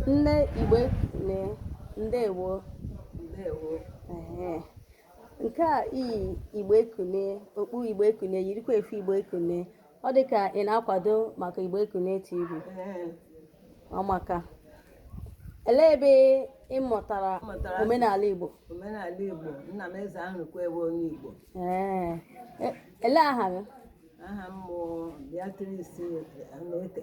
Nne Igbo ekunie ndewo. Ndewo. Ehe. Nke a i yi Igbo ekunie, okpu Igbo ekunie, yirikwa efe Igbo ekunie. Ọ dị ka ị na-akwado maka Igbo ekunie TV. Ee, Ọ maka. Elee ebe ị mụtara M mụtara asụ- omenala Igbo? Omenala Igbo, nna m eze Arụkwe onye Igbo. Ee. E- Elee aha gị? Aha m bụ Beatrice Anete.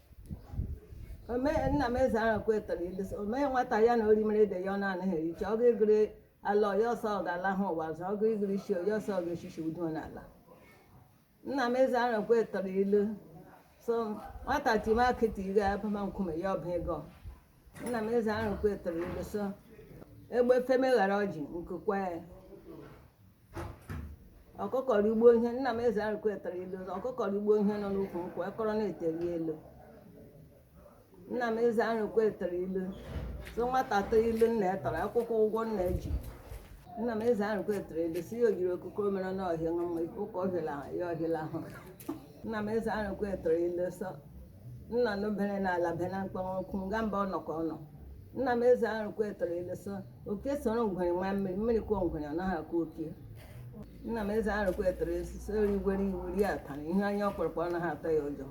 omee nna m eze Arụkwe tụrụ ilu sị o mee nwata ya na orimere ede ya ọ na-anaghị ericha ọgụ ịgụrụ ala ọya ọsọ ọ ga-ala ha ụwa ọzọ ọgụ ịgụrụ isi ọya ọsọ ọ ga-echichi udo n'ala nna m eze Arụkwe tụrụ ilu sị nwata time akị taa ire abama nkume ya ọba ego nna m eze Arụkwe tụrụ ilu sị egbe feme ghara ọjị nku kwaa ya ọkụkọrọ ugbo ihe nna m eze Arụkwe tụrụ ilu ọkụkọrọ ugbo ihe nọ n'ukwu nkwụ ekọrọ na-eteri elu nna m eze Arụkwe tụrụ ilu sị nwata tụọ ilu nna ya tụrụ ọ kwụkwaa ụgwọ nna ya ji nna m eze Arụkwe tụrụ ilu sị ya o jiri ọkụkọ mere n'ọhịa ṅụ mma ife ụka ọhịla ahụ ya ọhịla ahụ nna m eze Arụkwe tụrụ ilu sị nnụnụ bere n'ala be na mkpu akụ nga mba ọ nọ ka ọ nọ nna m eze Arụkwe tụrụ ilu sị oke soro ngwere maa mmiri mmiri kọọ ngwere ọ naghị akọ oke nna m eze Arụkwe tụrụ ilu sị ori gwere ewu rie atụrụ ihe anya ọkpọrọkpọ ọ naghị atụ ya ụjọ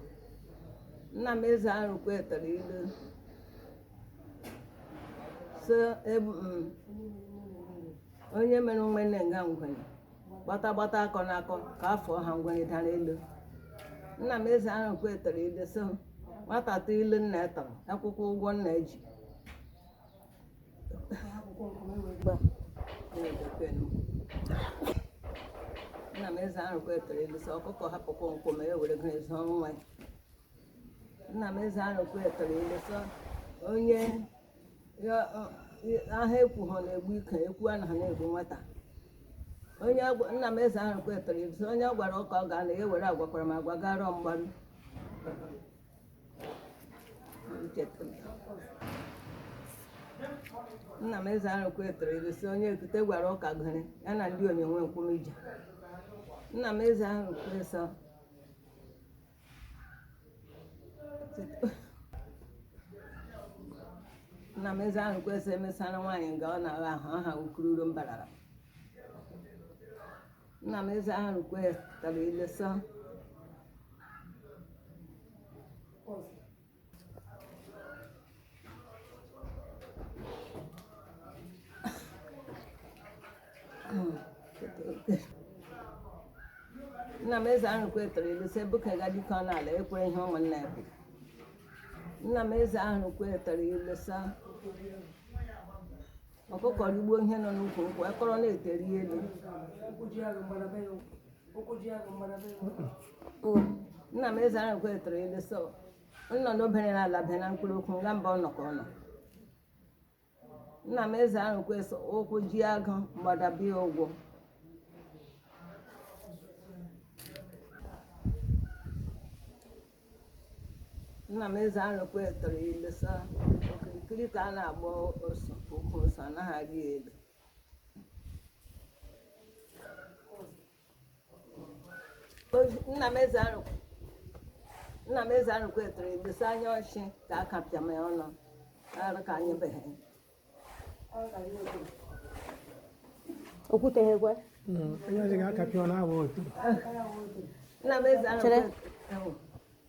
nna m eze Arụkwe tụrụ ilu sị ebu m onye mere nwene nga ngwere gbata gbata akọ na akọ ka afọ ha ngwere dara elu nna m eze Arụkwe tụrụ ilu sị nwata tụọ ilu nna ya tụrụ ọ kwụkwaa ụgwọ nna ya ji nna m eze Arụkwe tụrụ ilu sị ọkụkọ hapụ kwọm kwọm e were gịnị zụọ nwa ya nna m eze Arụkwe tụrụ ilu sị onye aha ekwu ha na-egbu ike ekwu anaghị na-egbu nwata onye nna m eze Arụkwe tụrụ ilu sị onye a gwara ụka ọ ga na ya were agwakwara m agwa gara mgbaru nna m eze Arụkwe tụrụ ilu sị onye ekute gwara ụka gere ya na ndị onye nwe nkwụmije nna m eze Arụkwe sị nna m eze Arụkwe sịrị emesara nwaanyị nga ọ na-agha ahụ aha ukururu mbarara nna m eze Arụkwe tụrụ ilu sị nna m Ezeahụrụkwe tụrụ ilu sị ebuka ga dike n'ala ekwere ihe ụmụnna ya kwuru nna m Ezeahụrụkwe tụrụ ilu sị ọkụkọ rigbuo ihe nọ n'ukwu nkwụ akọrọ na ete rị elu nna m Ezeahụrụkwe tụrụ ilu sị nnụnụ bere na ala bịa na mkpu ọ kwa nga mbụ ọ nọ ka ọ nọ nna m Ezeahụrụkwe sị ụkwụ jie agụ mgbada abịa ụgwọ nna m Ezeahụrụkwe tụrụ ilu sị okirikiri ka a na-agba ọsọ ukwu ose anaghị arị elu nna m Ezeahụrụkwe nna m Ezeahụrụkwe tụrụ ilu sị anya ọchị ka a kapịa m ya ọnụ arụ ka anyị beghị okwuteghekwe onye ọzọ ga-akapị ọ na-agba otu nna m Ezeahụrụkwe tụrụ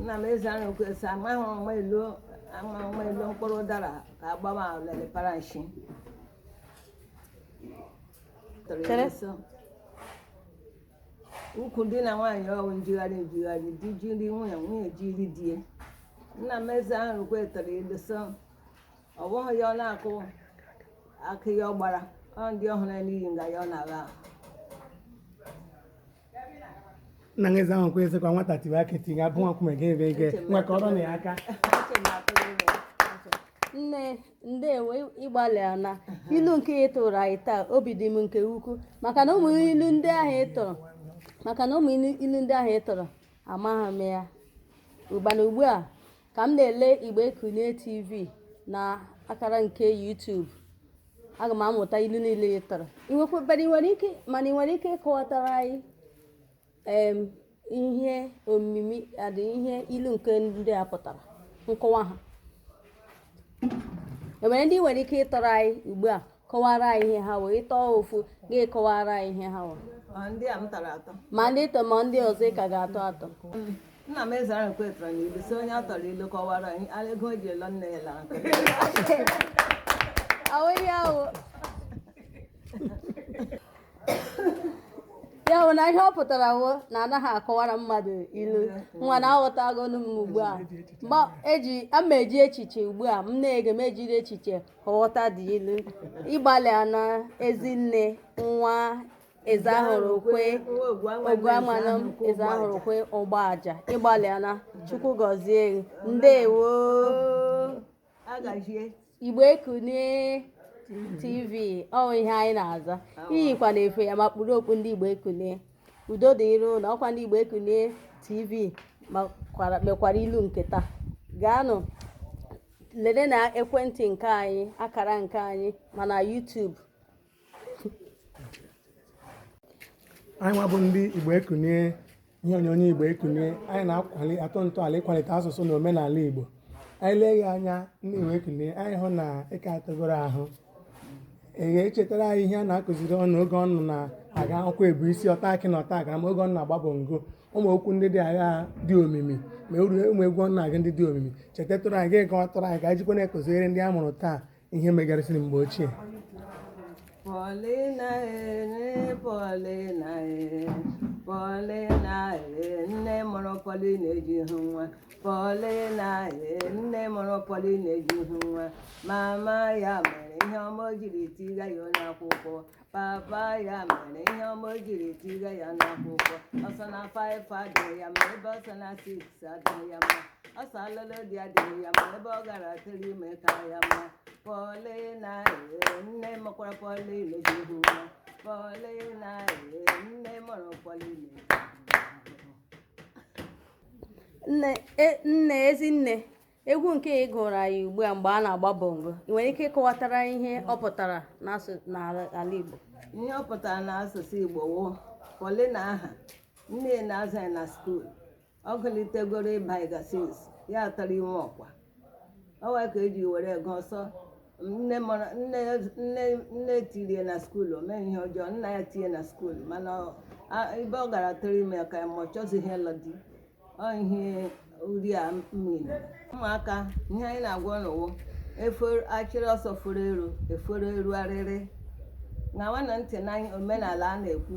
nna m Ezeahụrụkwe sị amaghị ọma elu amaghị ọma elu mkpụrụ ụdara ka agbawa lele paranshi tọrọ ya nso ukwu di na nwaanyị ọ wụ njigharị njigharị di jiri nwunye nwunye jiri di nna m Ezeahụrụkwe tụrụ ilu sị ọ bụghị ya ọ na-akụ akụ ya ọ gbara ọ ndị ọ hụrụ n'iyi nga ya ọ na-agha ahụ nna m Ezeahụrụkwe sịkwa nwata tiwe akị tinye abụ nwa nkume gị ebe ige nwa ka ọrụ na ya aka nne ndewo ị gbalịana ilu nke ị tụrụ anyị taa obi dị m nke ukwu maka na ụmụ ilu ndị ahụ ị tụrụ amaghị m ya ọ bụ na ugbu a ka m na-ele Igbo Kunie tv na akara nke YouTube aga m amụta ilu niile ị tụrụ mana ị nwere ike ịkọwatara anyị ihe omimi dị ihe ilu nke ndị a pụtara nkọwa ha e nwere ndị ị nwere ike ịtụrụ anyị ugbu a kọwara anyị ihe ha wụ ị tụọ ofu gị kọwara anyị ihe ha wụ ma ndị a m tụrụ atụ ma ndị tọ ma ndị ọzọ ị ka ga-atụ atụ nna m Ezeahụrụkwe tụrụ na ilu sị onye a tụọrọ ilu kọwara ya mara ego e ji lụọ nne ya lara n'ọkụ awụghị awụ ya bụ na ihe ọ pụtara wụ na anaghị akọwara mmadụ ilu nwanna aghọtagonụ m ugbu a mgbe eji ama eji echiche ugbu a m na-ege m ejiri echiche nghọta dị ilu ị gbalịana ezinne nwa eze ahụrụ kwe ogwu amanụ eze ahụrụ kwe ọgba aja ị gbalịana chukwu gọzie gị. ndewo agazie igbo ekunie tv ọ wụ ihe anyị na-aza i yikwana efe ya ma kpuru okpu ndị igbo ekunie udo dịrị unu ọ kwa ndị Igbo Ekunie TV mekwara ilu nke taa gaanụ lelee na ekwentị nke anyị akara nke anyị ma na YouTube anyị nwa bụ ndị Igbo Ekunie ihe onyonyo Igbo Ekunie anyị na-akwali atụ ntọala ịkwalite asụsụ na omenala Igbo anyị lee ya anya ndị Igbo Ekunie anyị hụ na ịka atụgoro ahụ Ee, chetara anyị ihe a na-akụziri unu oge unu na-aga akwụkwọ ebu isi ọta akị na ọta akara ma oge unu na-agba bongo ụmụ okwu ndị dị agha dị omimi ma ọ wụ ụmụ egwu unu na-agụ ndị dị omimi chetatụrụ anyị gị gwatụrụ anyị ka anyị jikwa na-akụziri ndị a mụrụ taa ihe megasịrị mgbe ochie Paulina ee Paulina ee Paulina ee nne mụrụ Paulina ejighị nwa Paulina ee nne mụrụ Paulina ejighị nwa mama ya mere ihe ọma o jiri tiga ya n'akwụkwọ papa ya mere ihe ọma o jiri tiga ya n'akwụkwọ ọ sị na five adịghị ya mma ebe ọ sị na six adịghị ya mma ọ sị alụlụ di adịghị ya mma ebe ọ gara tụrụ ime ka ya mma Paulina ee nne mụkwara Paulina ejighị nwa Paulina ee nne mụrụ Paulina ejighị nwa nne e, nne ezi nne egwu nke ị gụrụ anyị ugbu a mgbe a na-agba bongo ị nwere ike ịkọwatara ihe ọ pụtara n'ala Igbo ihe ọ pụtara n'asụsụ Igbo wụ Paulina ahụ nne ya na-azụ ya na school ọ gụlitegoro ịba class six ya atụrụ ime ọ kwa ọ wụ ya ka e ji were gụọ sọ nne mara nne nne nne tiri ya na school o meghị ihe ọjọọ nna ya tinye na school mana ọ- a- ebe ọ gara tụrụ ime ya ka ya mma ọ chọzighị ịlụ di ọ ihe uri a mmiri ụmụaka ihe anyị na-agwa unu wụ efere achịrị ọsọ furu eru efere eru arịrị ṅawanụ ntị na omenala a na-ekwu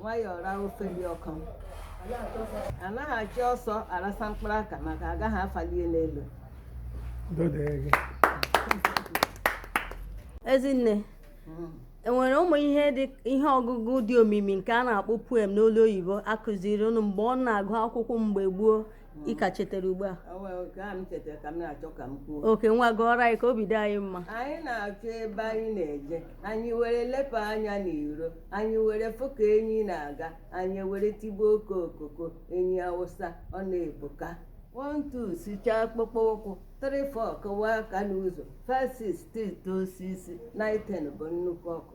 nwayọọ ra ofe dị ọkụ anaghị achị ọsọ arasa mkpụrụ aka maka agaghị afalie n'elu ezinne enwere ụmụ ihe dị ihe ọgụgụ dị omimi nke a na-akpọ poem n'olu oyibo a kụziri unu mgbe unu na-agụ akwụkwọ mgbe gboo ị ka chetara ugbu a O nwere nke a m chetara ka m na-achọ ka m kwuo oke nwa gụọrọ anyị ka obi dị anyị mma anyị na-achọ ebe anyị na-eje anyị were lepụ anya n'iro anyị were fụ ka enyi na-aga anyị were tigbuo oko okoko enyi awụsa ọ na-ebuka one two sichaa akpụkpọ ụkwụ three four kụwa aka n'ụzọ five six tụtụ osisi nine ten bụ nnukwu ọkụ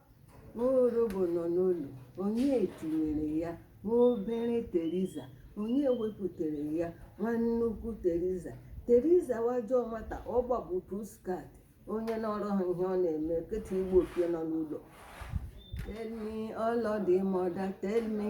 Nwologbo nọ n'olulu, onye tinyere ya? Nwa obere Teriza, onye wepụtara ya? Nwa nnukwu Teriza, Teriza wụ ajọ nwata, ọ gbagbu pussycat. Onye nọrọ ha ihe ọ na-eme, kịta igbu oke nọ n'ụlọ. Tell me all of the mother, tell me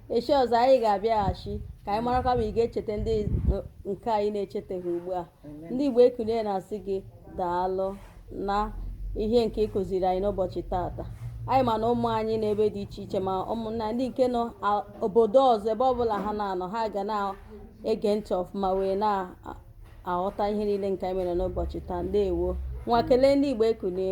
echi ọzọ anyị ga-abịaghachi ka anyị marakwa ma ị ga-echeta ndị nke anyị na-echetaghị ugbu a ndị Igbo ekunie na-asị gị daalụ na ihe nke ị kụziri anyị n'ụbọchị taata anyị ma na ụmụ anyị n'ebe dị iche iche ma ụmụnna ndị nke nọ obodo ọzọ ebe ọbụla ha na-anọ ha ga na-ege ntị ọfụma wee na-aghọta ihe niile nke anyị mere n'ụbọchị taa ndewo ngwa kelee ndị Igbo ekunie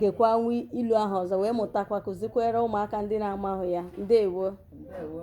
gekwanụ ilu ahụ ọzọ wee mụtakwa kụzikwere ụmụaka ndị na-amahụ ya ndewo ndewo